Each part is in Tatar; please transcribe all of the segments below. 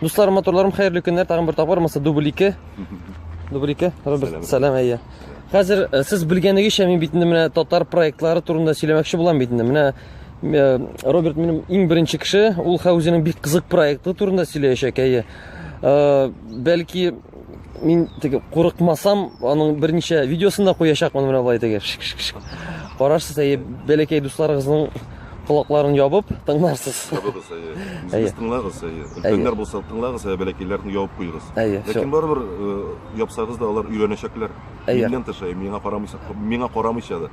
Дусларым, моторларым, хәерле көннәр. Тагын бер тапкыр мысы дубль 2. Дубль 2. Роберт, сәлам әйе. Хәзер э, сез белгәнегезчә мин бит инде менә татар проектлары турында сөйләмәкче булам бит инде. Менә э, Роберт минем иң беренче кеше, ул хәзер үзенең бик кызык проекты турында сөйләячәк әйе. Э, бәлки Мин теге курыкмасам, аның берничә видеосын да куячакмын менә болай теге. Карарсыз, әйе, бәләкәй дусларыгызның колакларын ябып тыңларсыз. Ябыгыз, әйе. Үзегез тыңлагыз, әйе. Өлкәннәр булса тыңлагыз, ә бәләкәйләрне ябып куегыз. Әйе. Ләкин барыбер э, ябсагыз да алар өйрәнәчәкләр. Әйе. Миннән тыш, әйе, миңа карамыйча, миңа карамыйча да.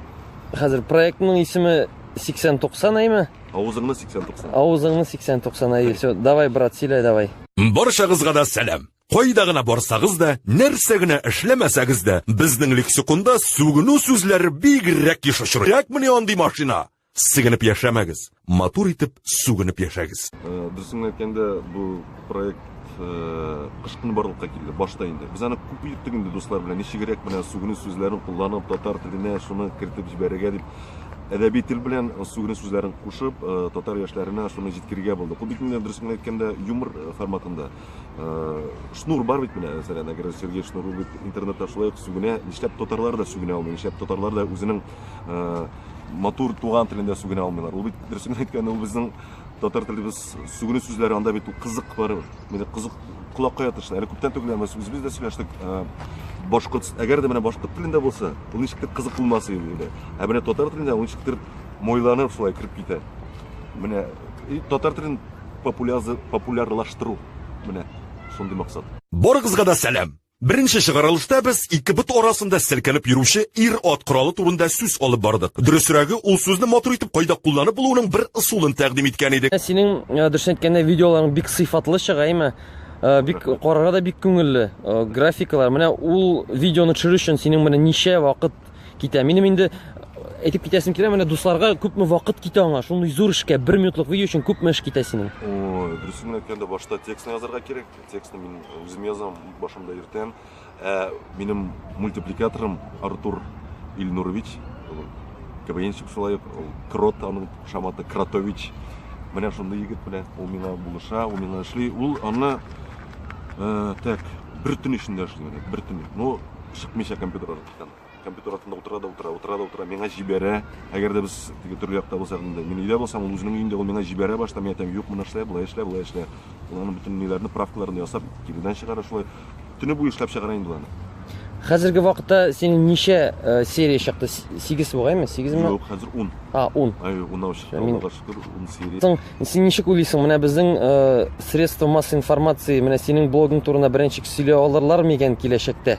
Хәзер проектның исеме 80-90, әйме? Авызыңны 80-90. Авызыңны 80-90, әйе. Все, давай, брат, сөйлә, давай. Баршагызга да сәлам. Кайда гына барсагыз да, нәрсә генә эшләмәсәгез дә, безнең лексиконда сүгенү сүзләре бигрәк еш очрый. Кирәкмени андый машина? Сигенеп яшәмәгез, матур итеп сүгенеп яшәгез. Э, Дөресен әйткәндә, бу проект э, кышкын барлыкка килде башта инде. Без аны күп йөрттек инде дуслар белән, ничегрәк менә сүгенү сүзләрен кулланып татар теленә шуны кертеп җибәрергә дип әдәби тел белән э, сүгенү сүзләрен кушып, э, татар яшьләренә шуны җиткерергә булдык. Ул бит инде дөресен әйткәндә юмор э, форматында. Э, шнур бар бит менә мәсәлән әгәр сергей шнуры бит интернетта шулай ук сүгенә нишләп татарлар да сүгенә алмый нишләп татарлар да үзенең э, матур туган телендә сүгенә алмыйлар ул бит дөресен әйткәндә ул безнең татар телебез сүгенү сүзләре анда бит кызык бар менә кызык колакка ятышлы әле күптән түгел без үзебез дә сөйләштек э, башкорт әгәр дә менә башкорт телендә булса ул ничектер кызык булмас иде ә менә татар телендә ул ничектер мойланып шулай кереп китә менә татар телен популярлаштыру, менә шундый максат. Барыгызга да сәлам! Беренче чыгарылышта без ике бот арасында селкенеп йөрүче ир-ат коралы турында сүз алып бардык. Дөресрәге, ул сүзне матур итеп кайда кулланып булуының бер ысулын тәкъдим иткән идек. Ә синең, э, дөресен әйткәндә, видеоларың бик сыйфатлы чыга, әйме? Э, бик карарга да бик күңелле. Э, графикалар, менә ул видеоны төшерү өчен синең менә ничә вакыт Китә. Минем инде әйтеп китәсем килә, менә дусларга күпме вакыт китә аңа. Шундый зур эшкә, бер минутлык видео өчен күпме эш китә синең? Ой, дөресен әйткәндә, башта текстны язарга кирәк. Текстны мин үзем язам, башымда йөртәм. Ә минем мультипликаторым Артур Ильнурович, КВНщик шулай ук, ул Крот аның шаматы Кротович. Менә шундый егет белән ул миңа булыша, ул миңа эшли. Ул аны э, так, бер төн эчендә эшли, менә, бер төн. Ну, чыкмыйча компьютердан. Там компьютер артында утыра да утыра, утыра да утыра, миңа җибәрә. Әгәр дә без теге төрле якта булсак инде, мин өйдә булсам, ул үзенең өендә, ул миңа җибәрә башта, мин әйтәм, юк, моны эшлә, болай эшлә, болай эшлә. Ул аны бөтен ниләрне, правкаларын ясап, киридән чыгара шулай. Төне буе эшләп чыгара инде аны. Хәзерге вакытта синең ничә э, серия чыкты? С- Сигез бугаймы? Сигезме? Юк, хәзер 10. А, ун. Ай, 10 нау чыкты, Мин- Аллага шөкер, 10 серия. Соң, син ничек уйлыйсың, менә безнең э, средства массовой информации, менә синең блогың турында беренче сөйли алырлар мигән киләчәктә?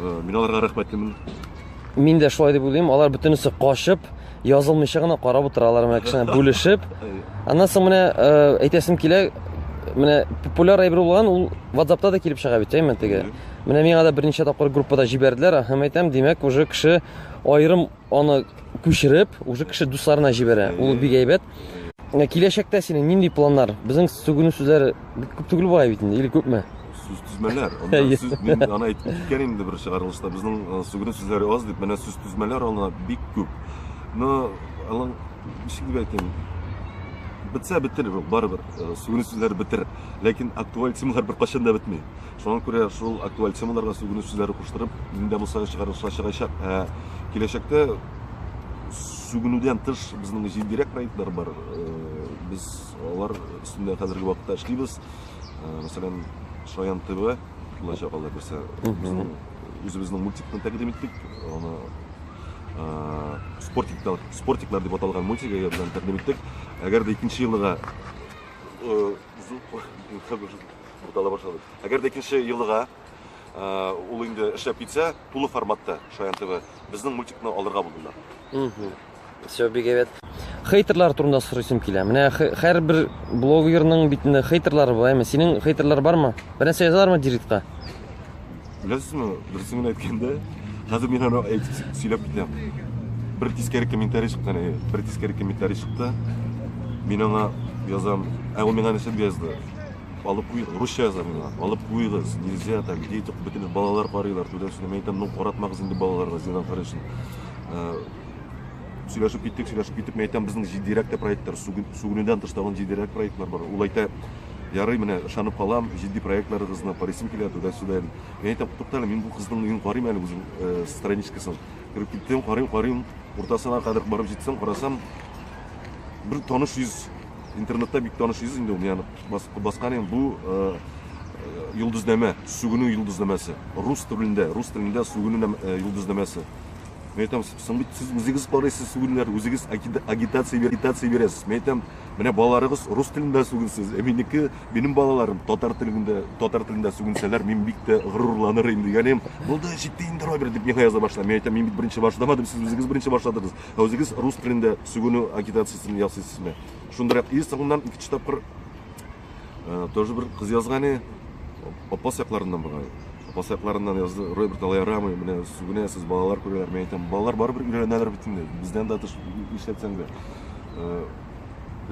Мин аларга рәхмәтлемен. Мин дә шулай дип уйлыйм. Алар бөтенесе качып, язылмыйча гына карап утыралар менә кешеләр бүлешеп. Аннан соң менә әйтәсем килә, менә популяр әйбер булган, ул WhatsAppта да килеп чыга бит, әйме теге. Менә миңа да берничә тапкыр группада җибәрделәр, һәм әйтәм, димәк, уже кеше аерым Аны күчереп, уже кеше дусларына җибәрә. Ул бик әйбәт. Ә киләчәктә синең нинди планнар? Безнең сүгенү сүзләре бик күп түгел бугай бит инде, или күпме? Сүз тизмәләр. Анда сүз мин аны әйтеп киткән инде бер чыгарылышта. Безнең э, сүгенү сүзләре аз дип, менә сүз тизмәләр аны бик күп. Но алың ничек дип әйтим? бетсә бетер ул барыбер сүгенү сүзләре бетер ләкин актуаль темалар беркайчан да бетми Шуңа күрә шул актуаль темаларга сүгенү сүзләре куштырып, нинди дә булса чыгарышлар чыгачак. Ә киләчәктә сүгенүдән тыш безнең җитдирәк проектлар бар. Э, без алар өстендә хәзерге вакытта эшлибез. Э, мәсәлән, Шаян ТВ булачак алла бирсә. Безнең үзебезнең мультикны тәкъдим иттек. Аны э, спортиклар, спортиклар дип аталган мультик белән тәкъдим иттек. Әгәр дә икенче елга Уртала башладык. Әгәр дә икенче елыга ул инде эшләп китсә, тулы форматта Шаян ТВ безнең мультикны алырга булдылар. Все, бик әйбәт. Хейтерлар турында сорыйсым килә. Менә һәрбер блогерның битендә хейтерлары бар, әйме? Синең хейтерлар бармы? Бернәрсә язалармы директка? Беләсезме, дөресен генә әйткәндә, хәзер мин аны әйтеп сөйләп китәм. Бер тискәре комментарий чыккан иде. Бер тискәре комментарий чыкты. Мин аңа язам. Ә ул миңа нәрсә дип язды? Алып куй, русча яза миңа. Алып куйыгыз, нельзя так, дети, бөтен балалар карыйлар, туда сюда. Мин әйтәм, ну каратмагыз инде балаларга, Зинан Харишин. Ә, сөйләшеп киттек, сөйләшеп киттек. Мин әйтәм, безнең җитдирәк тә проектлар, сүгенүдән тыш тагын җитдирәк проектлар бар. Ул әйтә, Ярый, менә ышанып калам, җитди проектларыгызны карыйсым килә туда-сюда. Мин әйтәм, тукта әле, мин бу кызның өен карыйм әле үзем, э, страничкасын. Кереп киттем, карыйм, карыйм, уртасына кадәр барып җитсәм, карасам, бер таныш йөз, интернетта бик таныш йөз инде ул, мин аны бас, баскан идем, бу э, э, йолдызнамә, сүгенү йолдызнамәсе, рус телендә, рус телендә сүгенү нәм- э, йолдызнамәсе. Мин әйтәм, Соң бит сез үзегез карыйсыз сүгенүләр, үзегез агитация агитация бирәсез. Мин әйтәм, менә балаларыгыз рус телендә сүгенсез, ә минеке, минем балаларым татар телендә, татар телендә сүгенсәләр, мин бик тә горурланыр идем дигәнем. Булды, җитте инде Роберт дип миңа яза башлады. Мин әйтәм, мин бит беренче башламадым, сез үзегез беренче башладыгыз. Ә үзегез рус телендә сүгенү агитациясен ясыйсызмы? Шундырак. И соңыннан икенче тапкыр Э, тоже бер кыз язган иде апас якларыннан бугай апас якларыннан язды роберт ала ярамый менә сүгенәсез балалар күрәләр мен әйтәм балалар барыбер өйрәнәләр бит инде бездән дә тыш эшләтсәң дә э,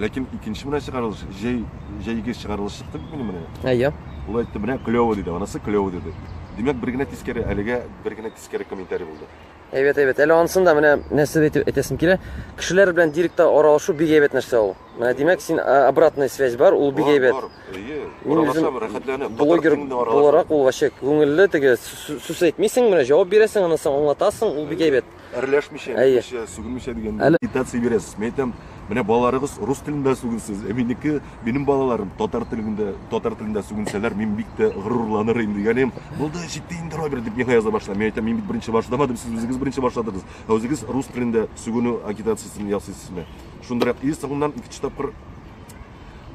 ләкин икенче менә чыгарылыш җәй җәйге чыгарылыш чыкты бит минем менә әйе ул әйтте менә клево диде анысы клево диде димәк бер генә тискәре әлегә бер генә тискәре комментарий булды әйбәт әйбәт әле анысын да менә нәрсә әйтәсем килә кешеләр белән директор аралашу бик әйбәт нәрсә ул Менә димәк, син а, обратная связь бар, ул бик Бар, әйбәт. бар. Әйе. Мин Карамаса, үзем рәхәтләнеп, татар блогер телен генә аралашып. буларак ул вообще күңелле теге сү- сүз әйтмисең, менә җавап бирәсең, аннан соң аңлатасың, ул бик әйбәт. Әрләшмичә, Әйе. әйтмичә, сүгенмичә дигән Әле- агитация бирәсез. Мин әйтәм, менә балаларыгыз рус телендә сүгенсез, ә минеке, минем балаларым татар телендә, татар телендә сүгенсәләр, мин бик тә горурланыр идем дигән идем. Булды, җитте инде, Роберт, дип миңа яза башлады. Мин әйтәм, мин бит беренче башламадым, сез үзегез беренче башладыгыз. Ә үзегез рус телендә сүгенү агитациясен ясыйсызмы? Шундый рәп ир соңыннан икенче тапкыр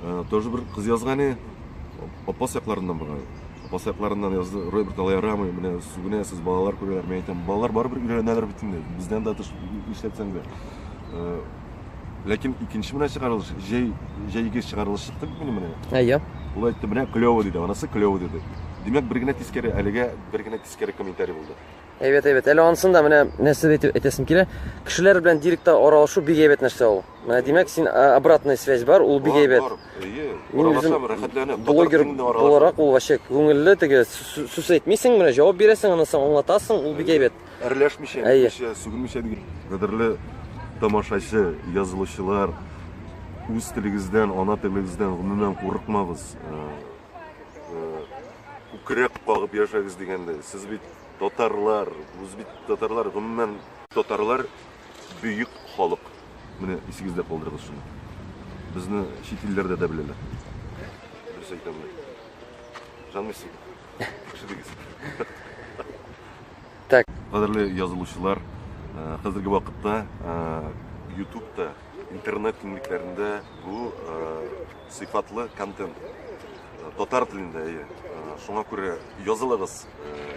э, тоже бер кыз язган иде. Апас якларыннан бугай. Апас якларыннан язды. Роберт алай ярамый. Менә сүгенә сез балалар күрәләр. Мин әйтәм, балалар барыбер өйрәнәләр бит инде. Бездән дә тыш эшләтсәң дә. Э, ләкин икенче менә чыгарылыш, җәй җәйге чыгарылыш чыкты бит минем менә. Әйе. Ул әйтте, менә клево диде. Анасы клево диде. Димәк, бер генә тискәре әлегә бер генә тискәре комментарий булды. Әйбәт, әйбәт. Әле ансын да менә нәрсә дә әйтәсем килә. Кешеләр белән директор аралашу бик әйбәт нәрсә ул. Менә димәк, син обратная связь бар, ул бик әйбәт. Мин үзем блогер буларак ул вообще күңелле теге сүз әйтмисең, менә җавап бирәсең, аннан соң аңлатасың, ул бик әйбәт. Әрләшмичә, әйтмичә, сүгенмичә диген. Кадерле тамашачы, язылучылар, үз телегездән, ана телегездән гомумән курыкмагыз. Күкрәк кагып яшәгез дигәндәй. Сез бит Татарлар, үзбек татарлар, гомумән. Татарлар бөек халык. Менә исегездә калдырыгыз шуны. Безне чит илләрдә дә беләләр. Дөрес әйтәмме? Ышанмыйсызмы? Тикшерегез. Так. Кадерле язылучылар, э, хәзерге вакытта э, ютубта, интернет киңлекләрендә бу э, Сыйфатлы контент. Татар телендә, әйе. Шуңа күрә язылыгыз.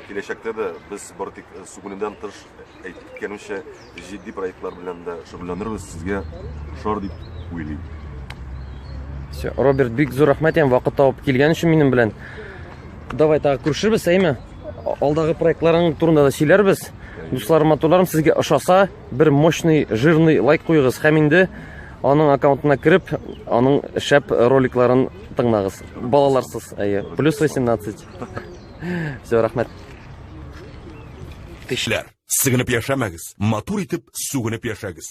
Киләчәктә дә без бары тик сүгенүдән тыш әйткәнемчә җитди проектлар белән дә шөгыльләнербез. Сезгә ошар дип уйлыйм. Все, Роберт, бик зур рәхмәт ям вакыт табып килгән өчен минем белән. Давай тагы күрешербез, әйме? Алдагы проектларың турында да сөйләрбез. Дусларым, матурларым, сезгә ошаса, бер мощный, жирный лайк куегыз. Һәм инде Аның аккаунтына кереп, аның шәп роликларын тыңлагыз. Балаларсыз, әйе. Плюс 18. Все, рәхмәт. Кешеләр, сигенеп яшәмәгез, матур итеп сүгенеп яшәгез.